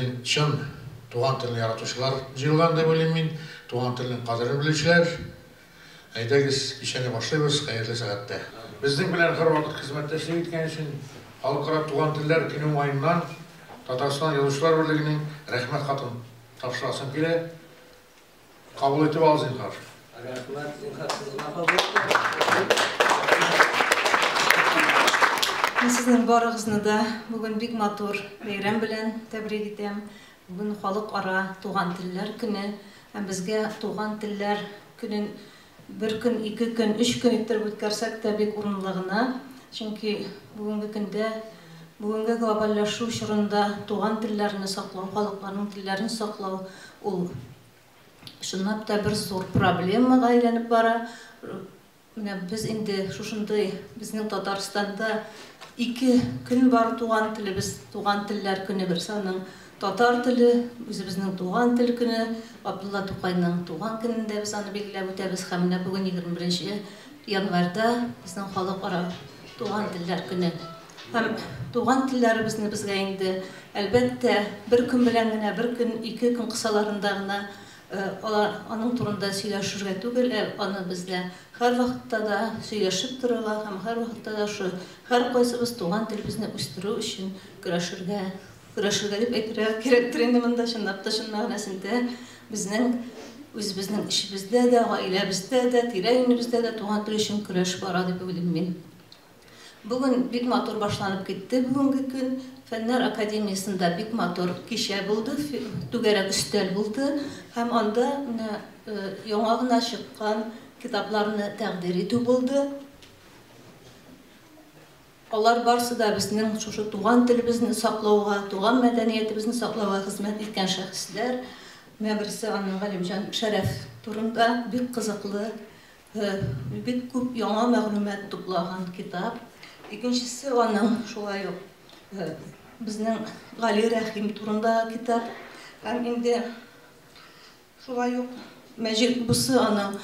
Син чын туган телне яратучылар җыелган дип уйлыйм мин, туган телнең кадерен белүчеләр. Әйдәгез, кичәне башлыйбыз хәерле сәгатьтә. Безнең белән һәрвакыт хезмәттәшлек иткән өчен Халыкара туган телләр көне уңаеннан Татарстан Язучылар берлегенең Рәхмәт хатын тапшырасым килә. Кабул итеп ал, зинхар. Рәхмәт, зинхар, сез гына кабул Мин сезнең барыгызны да бүген бик матур бәйрәм белән тәбрик итәм. Бүген халыкара туган телләр көне. Һәм безгә туган телләр көнен Бер көн, ике көн, өч көн иттереп үткәрсәк тә бик урынлы гына. Чөнки бүгенге көндә, бүгенге глобальләшү чорында туган телләрне саклау, халыкларның телләрен саклау ул чынлап та бер зур проблемага әйләнеп бара. Менә без инде шушындый безнең Татарстанда ике көн бар туган телебез, туган телләр көне, берсе аның Татар теле, үзебезнең туган тел көне, Габдулла Тукайның туган көнендә без аны билгеләп үтәбез һәм менә бүген, 21 январьда безнең халыкара туган телләр көне. Һәм туган телләребезне безгә инде, әлбәттә, бер көн белән генә, бер көн, ике көн кысаларында гына аның турында сөйләшергә түгел, ә аны безгә һәрвакытта да сөйләшеп торырга һәм һәрвакытта да шул һәркайсыбыз туган телебезне үстерү өчен көрәшергә Көрәшергә дип әйтергә кирәктер инде монда, чынлап та, чын мәгънәсендә безнең үзебезнең эчебездә дә, гаиләбездә дә, тирә-юнебездә дә туган тел өчен көрәш бара дип уйлыйм мин. Бүген бик матур башланып китте бүгенге көн. Фәннәр академиясендә бик матур кичә булды, түгәрәк өстәл булды һәм анда менә яңа гына чыккан китапларны тәкъдир итү булды. Алар барсы да безнең шушы туган телебезне саклауга, туган мәдәниятебезне саклауга хезмәт иткән шәхесләр. Менә берсе аны Галимҗан Шәрәф турында бик кызыклы, бик күп яңа мәгълүмат туплаган китап. Икенчесе аның шулай ук безнең Гали Рәхим турындагы китап. Һәм инде Шулай ук мәҗит бусы аның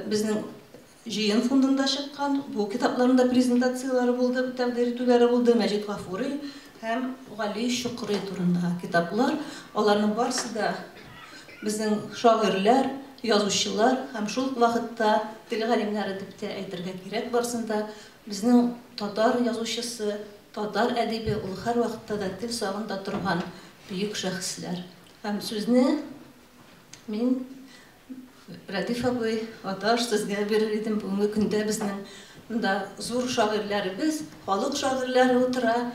безнең җыен фондында чыккан, бу китапларның да презентацияләре булды, тәкъдир итүләре булды, Мәҗит Гафури һәм Гали Чокрый турындагы китаплар, аларның барысы да безнең шагыйрьләр, язучылар һәм шул ук вакытта тел галимнәре дип тә әйтергә кирәк, барысын да безнең татар язучысы, татар әдибе, ул һәрвакытта да тел сагында торган бөек шәхесләр. Һәм сүзне мин, Рәдиф абый, Аташ, сезгә бирер идем. Бүгенге көндә безнең монда зур шагыйрьләребез, халык шагыйрьләре утыра.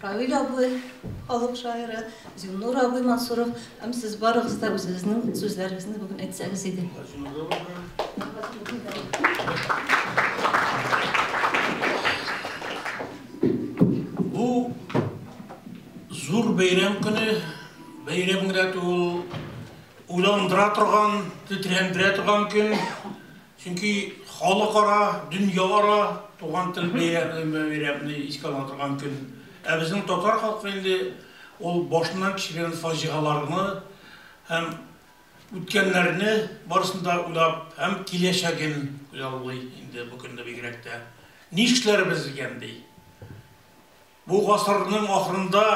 Равил абый, халык шагыйре, Зиннур абый Мансуров, һәм сез барыгыз да үзегезнең сүзләрегезне бүген әйтсәгез иде. Бу Зур бәйрәм көне, бәйрәм генә түгел, уйландыра торган, тетрәндерә торган көн, чөнки халыкара, дөньяара туган тел бәйрәмен искә ала торган көн. Ә безнең татар халкы инде ул башыннан кичергән фаҗигаларны һәм үткәннәрне барысын да уйлап һәм киләчәген хыяллый инде бу көнне бигрәк тә. Нишләрбез икән ди? Бу гасырның ахырында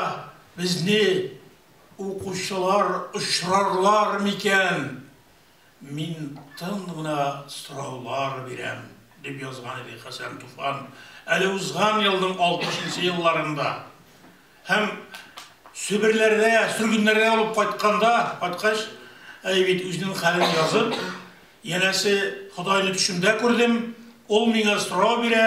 безне укучылар очрарлар микән? Мин тын гына сораулар бирәм, дип язган иде Хәсән Туфан әле узган елның алтмышынчы елларында һәм Себерләрдә, сөргеннәрдә булып кайтканда, кайткач, әй бит, үзенең хәлен язып, янәсе, Ходайны төшемдә күрдем, ул миңа сорау бирә,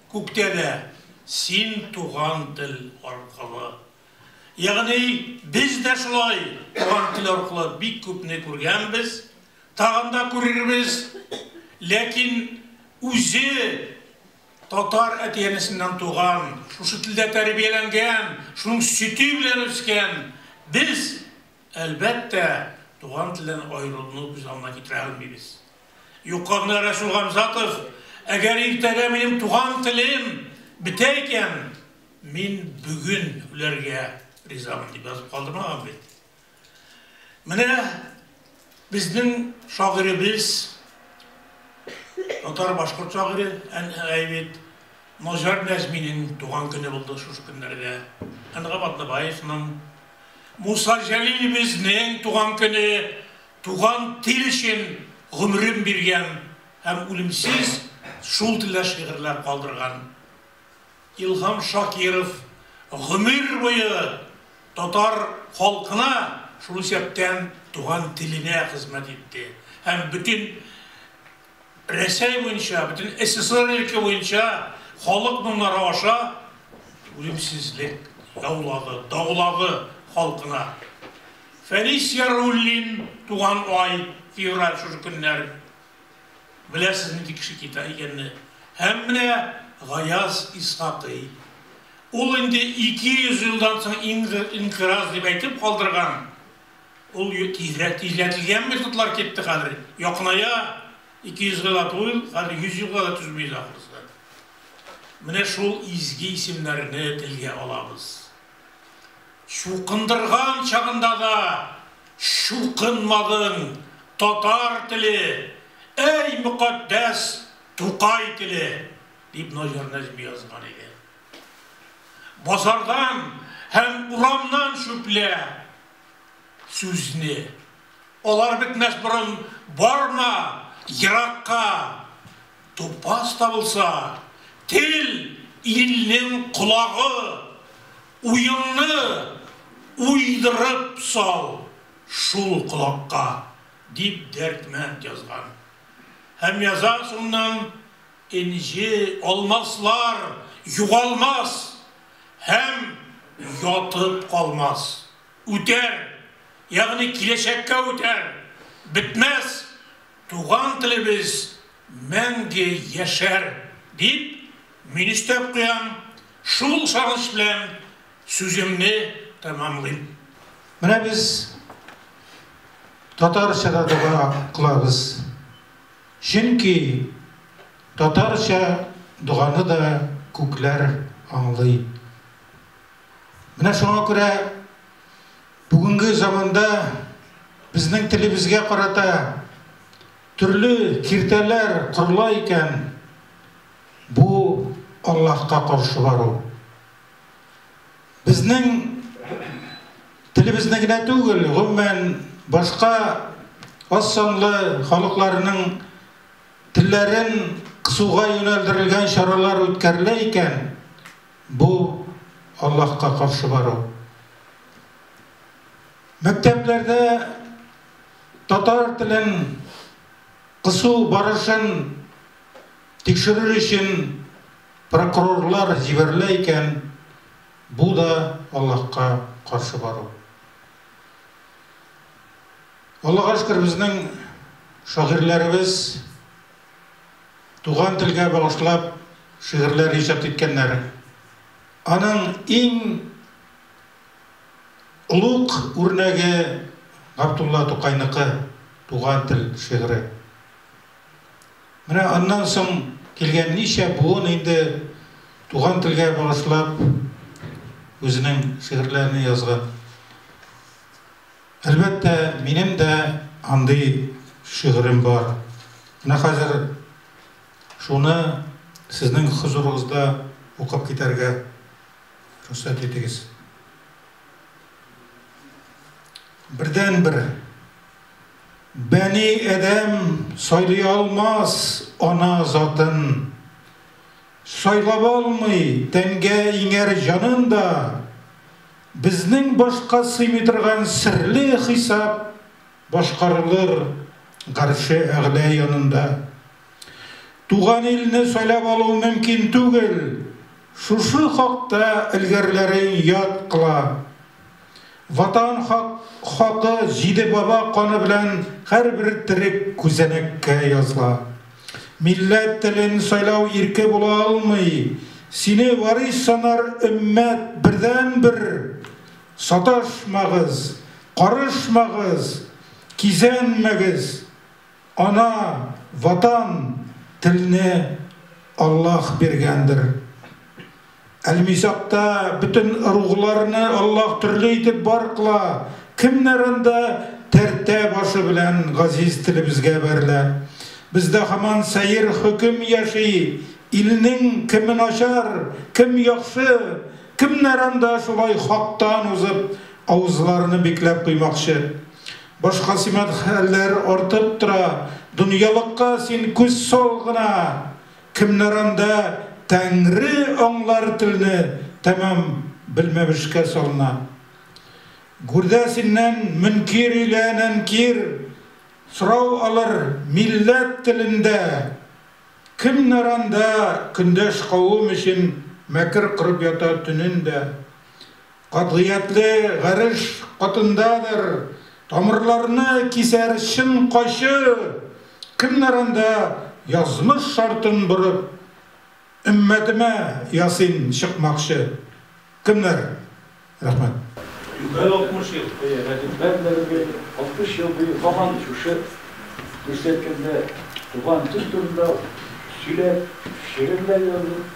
Күктә дә син туган тел аркылы. Ягъни без дә шулай туган тел аркылы бик күпне күргәнбез, тагын да күрербез. Ләкин үзе татар әти-әнисеннән туган, шушы телдә тәрбияләнгән, шуның сөте белән үскән без, әлбәттә, туган телдән аерылуны күз алдына китерә алмыйбыз. Юккагына Рәсүл Гамзатов, Әгәр иртәгә минем туган телем бетә икән, мин бүген үләргә ризамын, дип язып калдырмаган бит. Менә безнең шагыйребез, татар-башкорт шагыйре Әйбит Ножар Нәзминең туган көне булды шушы көннәрдә. Әнгам Атнабаевның, Муса Җәлилебезнең туган көне Туган тел өчен гомерен биргән һәм үлемсез шул телдә шигырьләр калдырган Илһам Шакиров гомер буе татар халкына, шул исәптән туган теленә хезмәт итте һәм бөтен Рәсәй буенча, бөтен СССР илке буенча халык моңнары аша үлемсезлек яулады, даулады халкына. Фәнис Яруллин туган ай, февраль шушы көннәр. Беләсез нинди кеше кита икәнне. Һәм менә Гаяз Исхакый. Ул инде 200 елдан соң инкыраз дип әйтеп калдырган Ул тизрәк тизләтелгән методлар китте хәзер. Якыная 200 елга да тулый, хәзер 100 елга да түзмибез ахрысы. Менә шул изге исемнәрне телгә алабыз. Чукындырган чагында да чукынмадың, татар теле, әй мөкатдәс Тукай теле, дип Наҗар Нәҗми язган иде. Базардан һәм урамнан чүплә. Сүзне. Алар бетмәс борын барма еракка. Тупас табылса, тел илнең колагы. Уеңны уйдырып сал шул колакка, дип Дәрдмәнд язган. Һәм яза, шуннан Энҗе, алмаслар югалмас һәм ятып калмас. Үтәр, ягъни киләчәккә үтәр, бетмәс, туган телебез мәңге яшәр, дип, мин өстәп куям, шул сагыш белән сүземне тәмамлыйм. Менә без татарча да дога кылабыз. Чөнки татарча доганы да күкләр аңлый. Менә шуңа күрә бүгенге заманда безнең телебезгә карата төрле киртәләр корыла икән, бу Аллаһка каршы бару. Безнең телебезне генә түгел, гомумән, башка аз санлы халыкларның телләрен кысуга юнәлдерелгән чаралар үткәрелә икән, бу Аллаһка каршы бару. Мәктәпләрдә татар телен кысу барышын тикшерер өчен Прокурорлар җибәрелә икән, бу да Аллаһка каршы бару. Аллага шөкер, безнең шагыйрьләребез туган телгә багышлап шигырьләр иҗат иткәннәр. Аның иң олуг үрнәге Габдулла Тукайныкы Туган тел шигыре. Менә аннан соң килгән ничә буын инде туган телгә багышлап үзенең шигырьләрен язган. Әлбәттә, минем дә андый шигырем бар. Менә хәзер шуны сезнең хозурыгызда укып китәргә рөхсәт итегез. Бердәнбер. Бәни Адәм сайлый алмас ана затын. Сайлап алмый тәнгә иңәр җанын да. Безнең башка сыймый торган серле хисап башкарылыр Гарше Әгълә янында. Туган илне сайлап алу мөмкин түгел, шушы хакта элгәрләрең яд кыла. Ватан хак, хакы җиде баба каны белән һәрбер терек күзәнәккә язла. Милләт телен сайлау ирке була алмый. Сине варис санар өммәт бердәнбер! Саташмагыз, карышмагыз, кизәнмәгез! Ана, Ватан, телне Аллаһ биргәндер. Әлмисакта бөтен ыругларны Аллаһ төрле итеп бар кыла, кемнәр анда тәртә башы белән газиз телебезгә бәрелә. Бездә һаман сәер хөкем яши, илнең кеме начар, кем яхшы, кемнәр анда шулай хактан узып, авызларны бикләп куймакчы. Башка сыман хәлләр артып тора. Дөньялыкка син күз сал гына, кемнәр анда, Тәңре аңлар телне тәмам белмәмешкә салына. Гүрдә синнән мөнкир илә нәнкир сорау алыр милләт телендә, Кемнәр анда, көндәш кавым өчен мәкер корып ята төнен дә. Катгыятле гареш катындадыр тамырларны кисәр чын кайчы, кемнәр анда язмыш шартын борып, өммәтемә ясин чыкмакчы? Кемнәр? Рәхмәт. Югары 60 ел быел Рәдиф Бәрдәевгә 60 ел буе һаман шушы күрсәткәндә туган тел турында сөйләп, шигырьләр язып,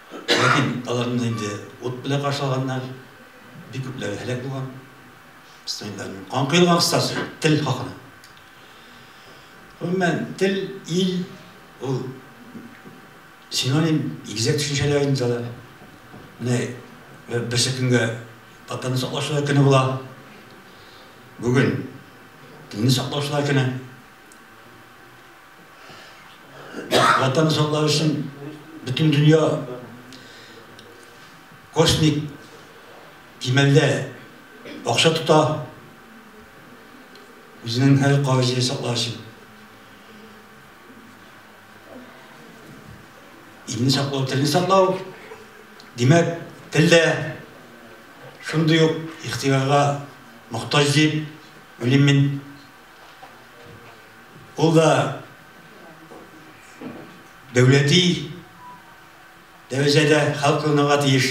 Ләкин аларны инде ут белән каршы алганнар, бик күпләре һәлак булган. Студентларның кан коелган кыскасы, тел хакына. Гомумән, тел, ил, ул синоним, игезәк төшенчәләр инде алар. Менә берсе көнгә татарны саклаучылар көне була. Бүген телне саклаучылар көне. Ватан саклау өчен бөтен дөнья космик кимәлдә акча тота. Үзенең һәр кавезен саклау өчен. Илне саклау, телне саклау. Димәк, тел дә шундый ук ихтиярга мохтаҗ дип уйлыйм мин. Ул да дәүләти дәрәҗәдә хәл кылынырга тиеш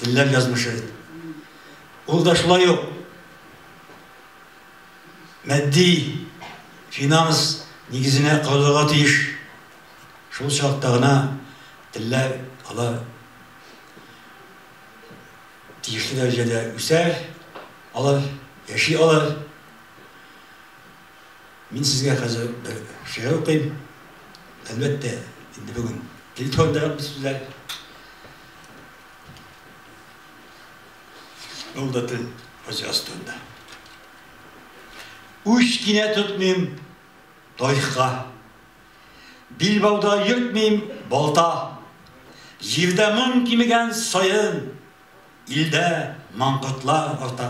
телләр язмышы. Ул да шулай ук мәдди финанс нигезенә корылырга тиеш. Шул чакта гына телләр алар тиешле дәрәҗәдә үсәр, алар яши алар. Мин сезгә хәзер бер шигырь укыйм. Әлбәттә, инде бүген тел турында гап сүзләр. Ул да тел фаҗигасы турында. Үч кинә тотмыйм тарихка. Билбауда йөртмим балта. Җирдә моң кимегән саен, илдә маңкортлар арта.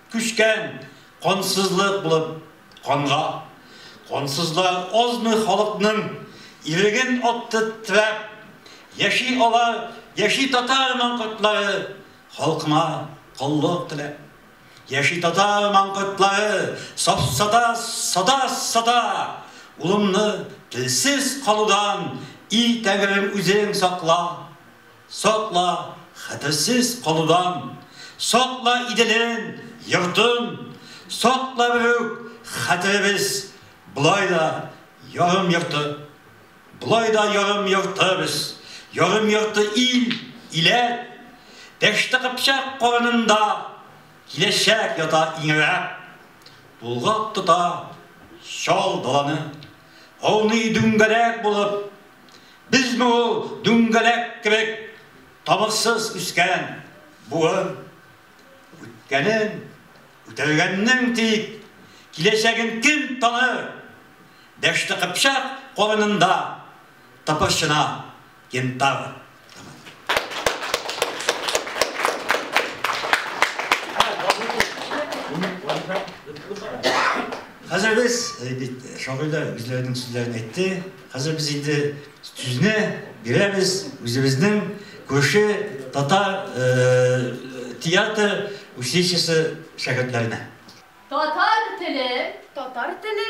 Күчкән кансызлык булып канга. Кансызлар азмы халыкның иреген атты трәп. Яши алар, яши татар маңкортлары, халкыма коллык теләп. Яши татар маңкортлары, сафсата сата сата, улымны телсез калудан, и Тәңрем үзең сакла. Сакла, хәтерсез калудан. Сакла Иделен, йортын. Сакла берүк хәтеребез. Болай да ярым йорты. Болай да ярым йорты без. Ярым йорты ил, иләт. Дәште кыпчак карынында. Киләчәк ята иңрәп. Тулгак тота чал даланы. Ауный дүңгәрәк булып Без бу ул дүңгәләк кебек тамырсыз үскән буын. Үткәнен үтәлгәннең тик киләчәген кем таныр? Дәште Кыпчак калынында тыпырчына кентавр. Хәзер без, э, бит, э, шагыйрьләр үзләренең сүзләрен әйтте. Хәзер без инде сүзне бирәбез үзебезнең күрше татар э, театр училищесы шәкертләренә. Татар теле, татар теле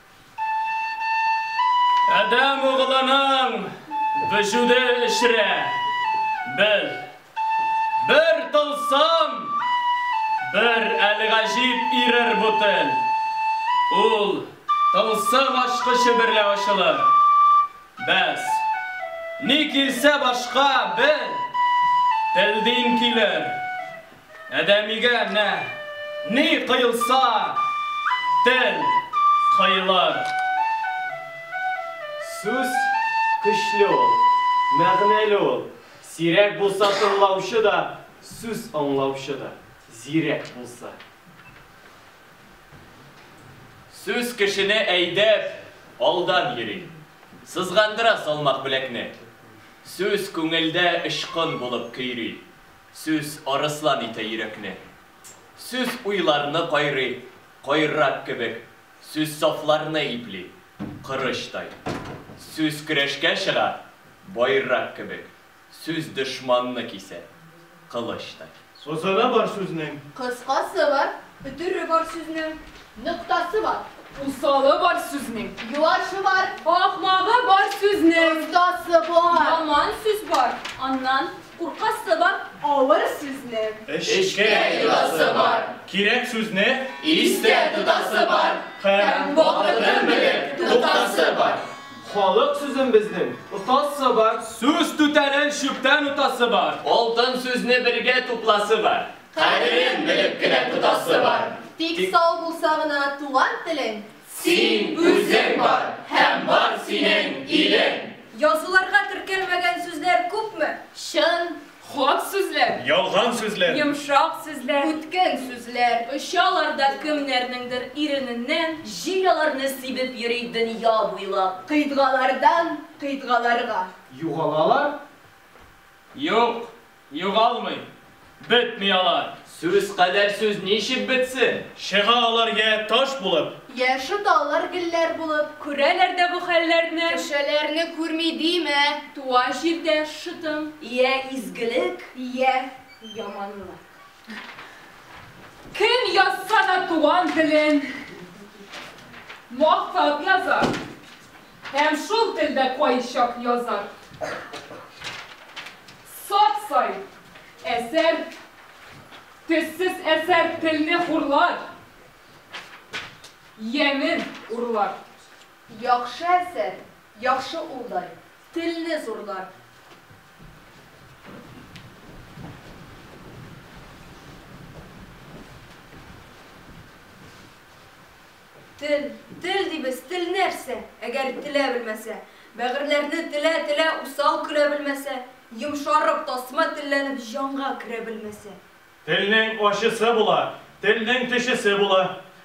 Адәм углының вөҗүде эчрә. Без, бер тылсым, бер әлгаҗиб ирер бу тел. Ул тылсым ачкычы берлә ачылыр. Бәс, ни килсә башка бер телдин килер, Адәмигә менә ни коелса, тел коелыр. Сүз көчле ул, мәгънәле ул. Сирәк булса тыңлаучы да, сүз аңлаучы да зирәк булса. Сүз кешене әйдәп, алдан йөри. Сызгандыра салмак беләкне. Сүз күңелдә очкын булып көйри. Сүз арыслан итә йөрәкне. Сүз уйларны кайрый, кайрак кебек, Сүз сафларны ипли, корычтай. Сүз көрәшкә чыга, байрак кебек, Сүз дошманны кисә, кылычтай. Сазаны бар сүзнең. Кыскасы бар, өтере бар сүзнең. Ноктасы бар. Усалы бар сүзнең. Юашы бар. Ахмагы бар сүзнең. Остасы бар. Яман сүз бар, аннан Куркасы бар авыр сүзне. Эчкә йотасы бар. Кирәк сүзне. Истә тотасы бар. Һәм вакытын белеп туктасы бар. Халык сүзен безнең отасы бар. Сүз түтәлен чүптән утасы бар. Алтын сүзне бергә тупласы бар. Кадерен белеп кенә тотасы бар. Тик сау булса гына туган телең. Син үзең бар һәм бар синең илең. Язуларга теркәлмәгән сүзләр күпме? Чын, хак сүзләр. Ялган сүзләр. Йомшак сүзләр. Үткен сүзләр. Очалар да кемнәрнеңдер ирененнән. Җил аларны сибеп йөри дөнья буйлап. Кыйтгалардан кыйтгаларга. Югалалар? Юк, Югалмый, бетми алар. Сүз кадәр сүз ничек бетсен? Чыга алар йә таш булып. Йә шыта алар гелләр булып. Күрәләр дә бу хәлләрне. Кешеләрне күрми димә. Туа җирдә шытым. Йә изгелек, йә яманлык. Кем язса да туган телен. Мактап язар. Һәм шул телдә кайчак язар. Сат сай әсәр, төссез әсәр телне хурлар, ямен урлар. Яхшы әсәр, яхшы улдай, телне зурлар. Тел, тел дибез, тел нәрсә? Әгәр телә белмәсә. Бәгырьләрне телә, телә, усал көлә белмәсә. Йомшарып, тасма телләнеп, җанга керә белмәсә. Телнең ачысы була, телнең төчесе була.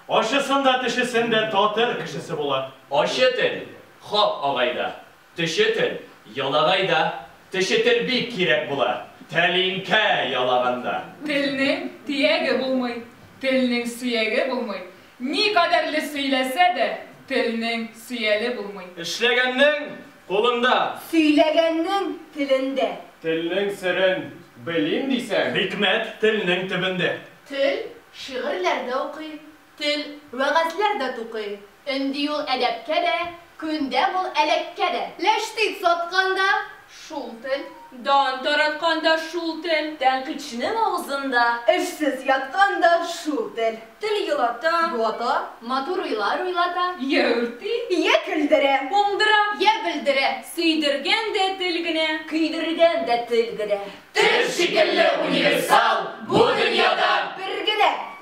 Ачысын да, төчесен дә татыр кешесе була. Ачы тел, хак агай да, Төче тел, ялагайда. Төче тел бик кирәк була. Тәлинкә ялаганда. Телнең тияге булмый. Телнең сөяге булмый. Ни кадәрле сөйләсә дә, телнең сөяле булмый. Эшләгәннең кулында. Сөйләгәннең телендә. Телнең серен белим дисәң. Хикмәт телнең төбендә. Тел шигырьләр дә укый. Тел, вәгазьләр дә тукый. Өнди ул әдәпкә дә, Күндә ул әләккә дә. Ләштит саткан да, шул тел. Дан тараткан да, шул тел. Тәнкыйтьченең авызында. Эшсез яткан да, шул тел. Тел елата, юата. Матур уйлар уйлата. Йә үрти, йә көлдерә. Уңдыра, йә бөлдерә. Сөйдергән дә тел генә. Көйдергән дә тел генә. Тел шикелле универсал бу дөньяда. Бер генә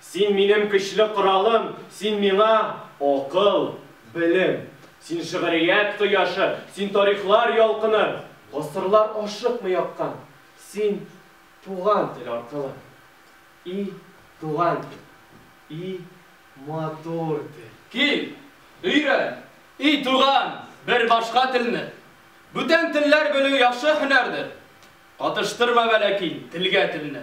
Син минем көчле коралым, син миңа, акыл, белем. Син шигърият кояшы, син тарихлар ялкыны. Гасырлар ашыкмый аккан, син туган тел аркылы. И туган тел, и матур тел. Кил, өйрән, и туган, бер башка телне. Бүтән телләр белү яхшы һөнәрдер. Катыштырма вә ләкин телгә телне.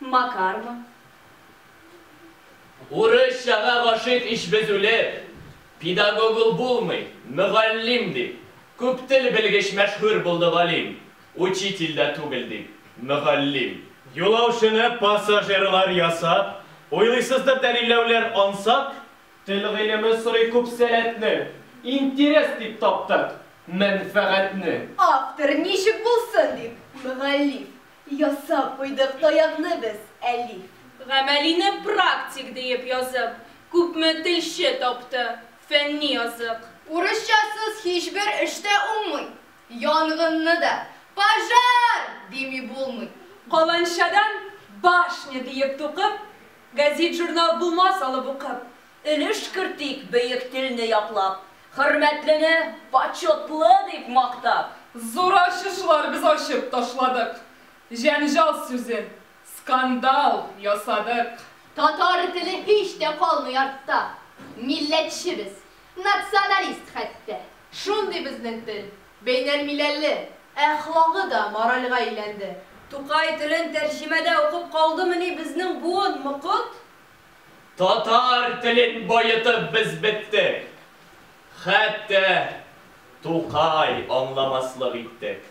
Макармы? Урысчага гашыйк ич без үлеп! Педагог ул булмый, мөгаллим, дип, күп тел белгеч мәшһүр булды галим, учитель дә түгел, дип, мөгаллим. Юлаучыны пассажирлар ясап, уйлыйсыздыр дәлилләүләр ансат? Тел гыйлеме сорый күп сәләтне, интерес дип таптык, мәнфәгатьне. Автор ничек булсын дип, мөгаллиф, Ясап куйдык таякны без, Әлиф. Гамәлине практик диеп язып, күпме телче тапты, фәнни язык. Урысчасыз һичбер эш тә уңмый, янгынны да пожар! дими булмый. Каланчадан башня диеп тукып, гәзит-журнал булмас алып укып, Өлеш кертик бөек телне яклап, Хөрмәтлене почетлы дип мактап. Зур ачышлар без ачып ташладык, Җәнҗал сүзен, скандал ясадык. Татар теле һич тә калмый артта, Милләтче без, националист хәтта. Шундый безнең тел, бәйнәл миләлле, Әхлагы да моральга әйләнде. Тукай телен тәрҗемәдә укып калдымыни Безнең буын, мокыт? Татар телен баетып без беттек. Хәтта Тукай аңламаслык иттек.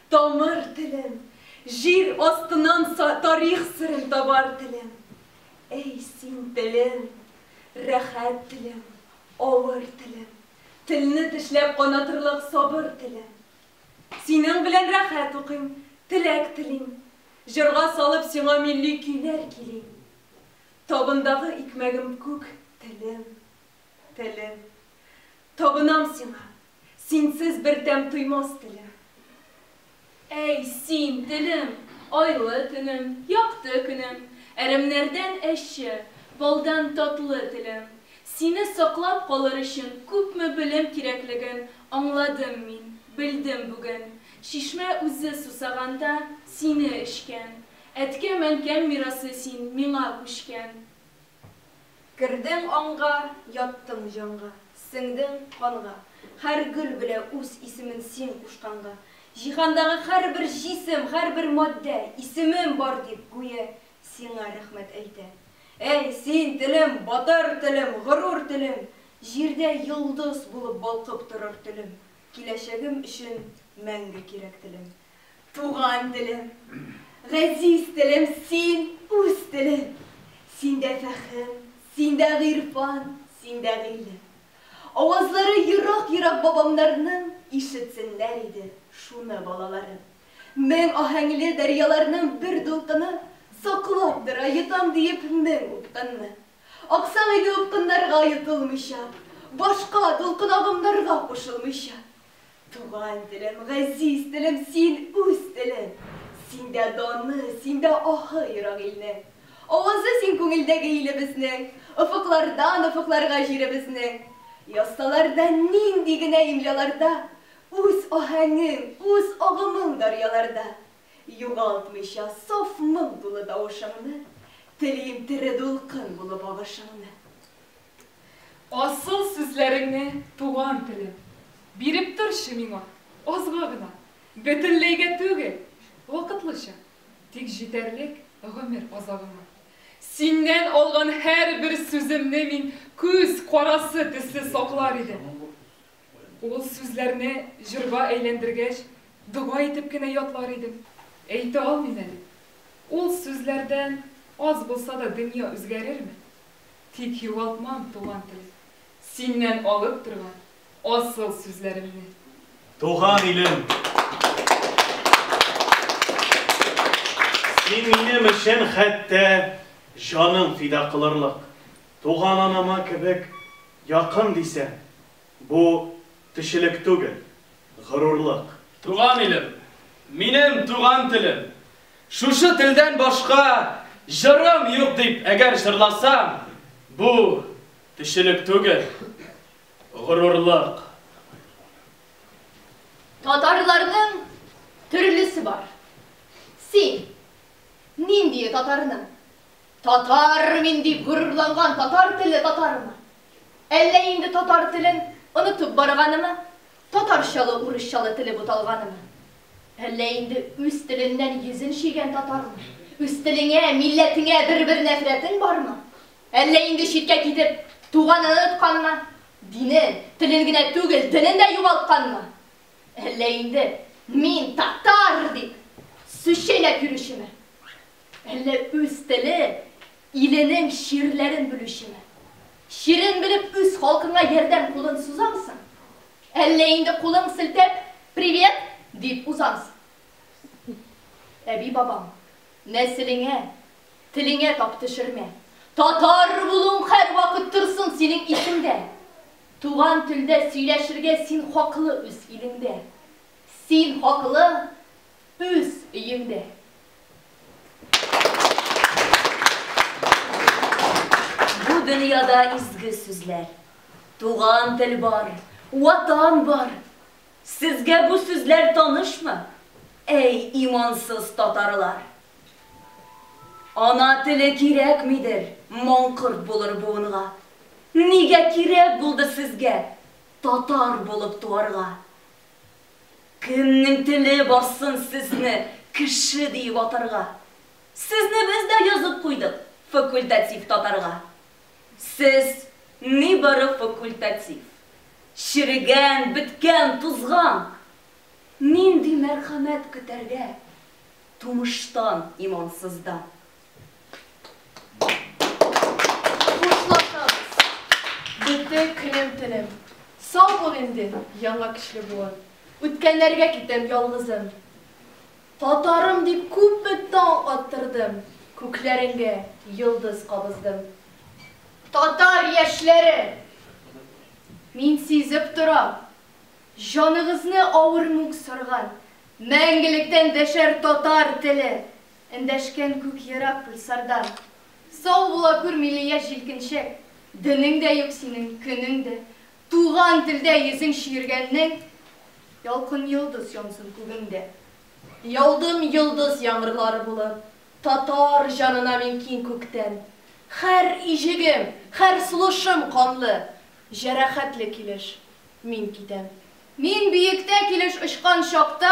Тамыр телем, җир астыннан Тарих серен табар телем. Әй, син телем, рәхәт телем, авыр телем, Телне тешләп канатырлык сабыр телем. Синең белән рәхәт укыйм, теләк телим, Җырга салып сиңа милли көйләр килим. Табындагы икмәгем күк телем, телем, Табынам сиңа, Синсез бер тәм тоймас телем. Әй, син, телем, айлы төнем, якты көнем, Әрәмнәрдән әче, балдан татлы телем. Сине саклап калыр өчен күпме белем кирәклеген Аңладым мин, белдем бүген. Чишмә үзе сусаганда, сине эчкән. Әткәм-әнкәм мирасы син, миңа күчкән. Кердең аңга, яттың җанга, Сеңдең канга. Һәр гөл белә үз исемен Син кушканга. Җиһандагы һәрбер җисем, Һәрбер матдә, исемем бар дип, Гүя сиңа рәхмәт әйтә. Әй, син, телем, батыр телем, Горур телем! Җирдә йолдыз булып балкып торыр телем, Киләчәгем өчен мәңге кирәк телем. Туган телем, газиз телем, син, үз телем. Синдә фәһем, синдә гыйрфан, синдә гыйлем. Авазлары ерак-ерак бабамнарның Ишетсеннәр иде шуны балаларым. Мең аһәңле дәрьяларның бер дулкыны Саклап тора, йотам диеп, мең упкынны. Аксаң иде упкыннарга йотылмыйча, Башка дулкын-агымнарга кушылмыйча. Туган телем, газиз телем, син үз телең. Синдә даны, синдә аһы ерак илне. Авазы син күңелдәге илебезнең. Офыклардан офыкларга җиребезнең. Язсалар да нинди генә имляларда, Үз аһәңең, үз агымың дарьяларда. Югалтмыйча саф моң тулы тавышыңны, Телим тере дулкын булып агышыңны. Асыл сүзләреңне, туган телем. Биреп торчы миңа, азга гына. Бөтенләйгә түгел, вакытлыча. Тик җитәрлек гомер азагыма. Синнән алган һәрбер сүземне мин күз карасы төсле саклар идем. Ул сүзләрне җырга әйләндергәч, дога итеп кенә ятлар идем. Әйтә алмыйм әле, ул сүзләрдән аз булса да дөнья үзгәрерме? Тик югалтмам, туган тел. Синнән алып торган асыл сүзләремне. Туган илем! Син минем өчен хәтта җаның фида кылырлык, туган анама кебек якын дисәң, бу Кешелек түгел, горурлык. Туган илем, минем туган телем. Шушы телдән башка җырым юк дип әгәр җырласам, бу, кешелек түгел, горурлык. Татарларның төрлесе бар. Син ниндие татарның? Татар мин дип горурланган татар телле татармы? Әллә инде татар телен онытып барганымы, татарчалы урысчалы теле буталганымы? Әллә инде үз теленнән йөзен чөйгән татармы? Үз телеңә, милләтеңә бер-бер нәфрәтең бармы? Әллә инде читкә китеп, туганын онытканмы, динен, телен генә түгел, денен дә югалтканмы? Әллә инде мин татар дип сүз чәйнәп йөрүчеме? Әллә үз теле, иленең чирләрен белүчеме? Чирен белеп үз халкыңа ярдәм кулын сузамсың? Әллә инде кулың селтәп, Привет! дип узамсың? Әби-бабаң, нәселеңә, телеңә тап төшермә. Татар булуың һәрвакыт торсын синең исеңдә. Туган телдә сөйләшергә син хаклы үз илеңдә. Син хаклы үз өеңдә. Бу дөньяда изге сүзләр. Туган тел бар, ватан бар. Сезгә бу сүзләр танышмы? Әй, имансыз татарлар! Ана теле кирәкмидер маңкорт булыр буынга. Нигә кирәк булды сезгә татар булып туарга? Кемнең теле барсын сезне кеше диеп атарга? Сезне без дә язып куйдык факультатив татарга. Сез, нибары факультатив. Черегән, беткән, тузган. Нинди мәрхәмәт көтәргә тумыштан, имансыздан? яңа көчле буын. Үткәннәргә китәм ялгызым. Татарым дип күпме таң аттырдым, күкләреңгә йолдыз кабыздым. Татар яшьләре! Мин сизеп торам. Җаныгызны авыр мүк сарган, мәңгелектән дәшәр татар теле, Эндәшкән күк ерак гөлсардан. Сау була күр, милли яшь җилкенчәк, Денең дә юк синең, көнең дә. Туган телдә йөзең чөергәннең, Ялкын йолдыз янсын күгеңдә. Яудым йолдыз яңгырлары булып, Татар җанына мин киң күктән. Хәр иҗегем, хәр сулышым канлы, Җәрәхәтле килеш мин китәм. Мин биектә килеш очкан чакта,